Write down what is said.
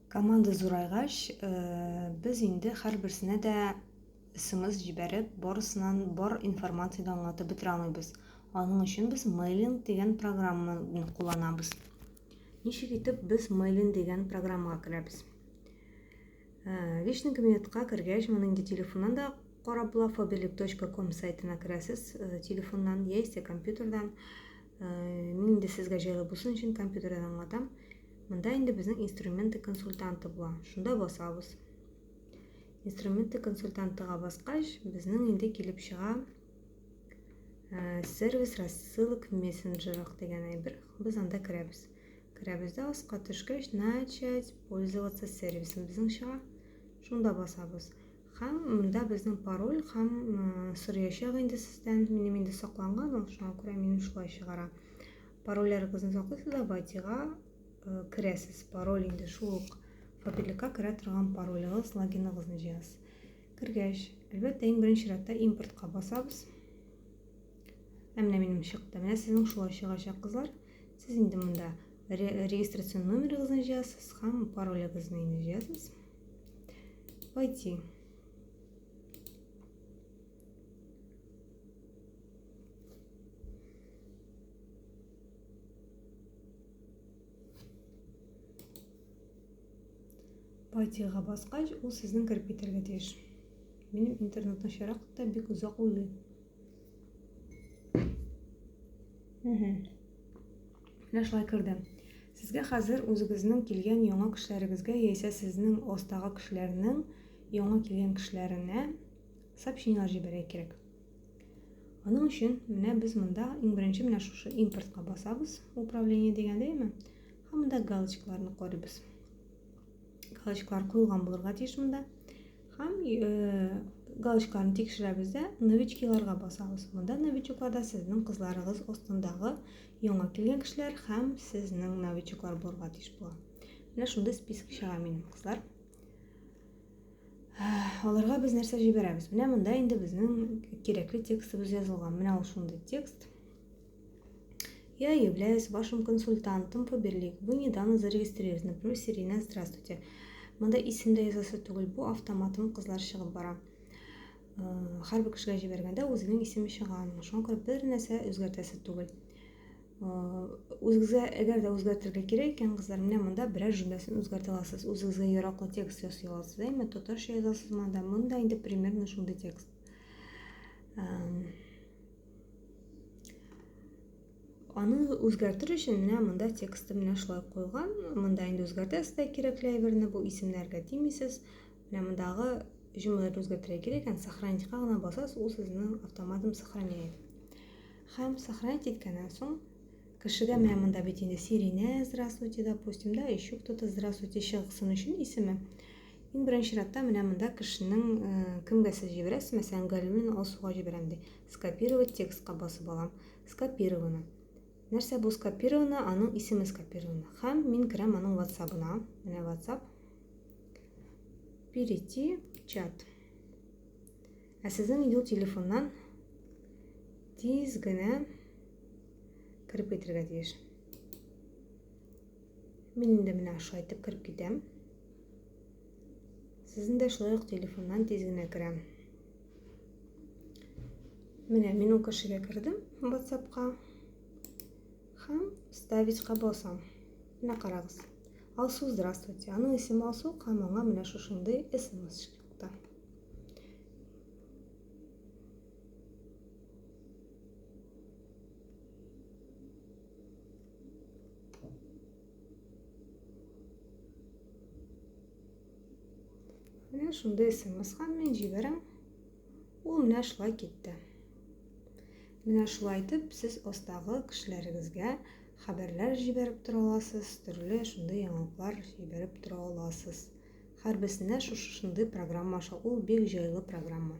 Команда зурайгач, э, без инде һәрберсенә дә смс җибәреп, барысынан бар информацияне аңлатып бетерә алмыйбыз. Аның өчен без мейлинг дигән программаны кулланабыз. Ничек итеп без мейлинг дигән программага керәбез? Э, личный кабинетка кергәч, моны инде телефоннан да карап була, fobelik.com сайтына керәсез, э, телефоннан яисә компьютердан. Мин инде сезгә җайлы булсын өчен компьютердан аңлатам. Монда инде безнең инструменты консультанты була. Шунда басабыз. Инструменты консультантыга баскач, безнең инде килеп чыга э, сервис рассылок в мессенджерах дигән әйбер. Без анда керәбез. Керәбез дә аска төшкәч, начать пользоваться сервисом безнең чыга. Шунда басабыз. Һәм монда безнең пароль һәм э, сорыячак инде сездән. Минем инде сакланган ул, шуңа күрә минем шулай чыгара. Парольләрегезне саклыйсыз да Ватига э, керәсез. Пароль инде шул ук фабрикка керә торган паролегыз, логиныгызны җыясыз. Кергәч, әлбәттә, иң беренче чиратта импортка басабыз. Ә менә минем чыкты. Менә сезнең шулай чыгачак, кызлар. Сез инде монда регистрацион номерыгызны җыясыз һәм паролегызны инде җыясыз. Войти. Патига баскач, ул сезнең кереп китәргә тиеш. Минем интернет начарак та бик озак уйлый. Менә шулай керде. Сезгә хәзер үзегезнең килгән яңа кешеләрегезгә яисә сезнең остагы кешеләрнең яңа килгән кешеләренә сообщениеләр җибәрә кирәк. Аның өчен менә без монда иң беренче менә шушы импортка басабыз, управление дигән дәйме? Һәм монда галочкаларны карыйбыз. Галочкалар куелган булырга тиеш монда. Һәм э, галочкаларны тикшерәбез дә новичкиларга басабыз. Монда новичокларда сезнең кызларыгыз астындагы яңа килгән кешеләр һәм сезнең новичоклар булырга тиеш була. Менә шундый список чыга минем кызлар. Аларга без нәрсә җибәрәбез? Менә монда инде безнең кирәкле текстыбыз язылган. Менә ул шундый текст. Я являюсь вашим консультантом по Берлик. Вы недавно зарегистрировались. Например, Сирина, здравствуйте. Монда исемдә язасы түгел, бу автоматом кызлар чыгып бара. Һәрбер кешегә җибәргәндә үзенең исеме чыга. Шуңа күрә бер нәрсә үзгәртәсе түгел. Үзегезгә әгәр дә үзгәртергә кирәк икән, кызлар, менә монда берәр җөмләсен үзгәртә аласыз. Үзегезгә яраклы текст ясый аласыз, әйме, татарча язасыз монда. Монда инде примерно шундый текст. Аны үзгәртер өчен менә монда тексты менә шулай куелган. Монда инде үзгәртәсез дә кирәкле әйберне, бу исемнәргә тимисез. Менә мондагы җөмләләрне үзгәртергә кирәк икән, сохранить-ка гына басасыз, ул сезнең автоматом сохраняет. Һәм сохранить иткәннән соң, кешегә менә монда бит инде Сиринә, здравствуйте, допустим, да, еще кто-то здравствуйте чыгсын өчен исеме. Иң беренче чиратта менә монда кешенең э, кемгә сез җибәрәсез, мәсәлән, Галимнең Алсуга җибәрәм ди. Скопировать текстка басып алам. Скопировано. Нәрсә бу скопировано? Аның исеме скопировано. Һәм мин керәм аның WhatsApp-ына. Менә WhatsApp. Перейти чат. Ә сезнең юл телефоннан тиз генә кереп китергә тиеш. Мин инде менә шулай итеп кереп китәм. Сезнең дә шулай ук телефоннан тиз генә керәм. Менә мин ул кешегә кердем WhatsApp-ка һәм ставить-ка басам. Менә карагыз. Алсу, здравствуйте. Аның исеме Алсу, һәм аңа менә шушындый смс Менә шундый смс-га мен җибәрәм. Ул менә шулай китте. Менә шулай итеп сез астагы кешеләрегезгә хәбәрләр җибәреп тора аласыз, төрле шундый яңалыклар җибәреп тора аласыз. Һәрберсендә шушы шундый программа аша, ул бик җайлы программа.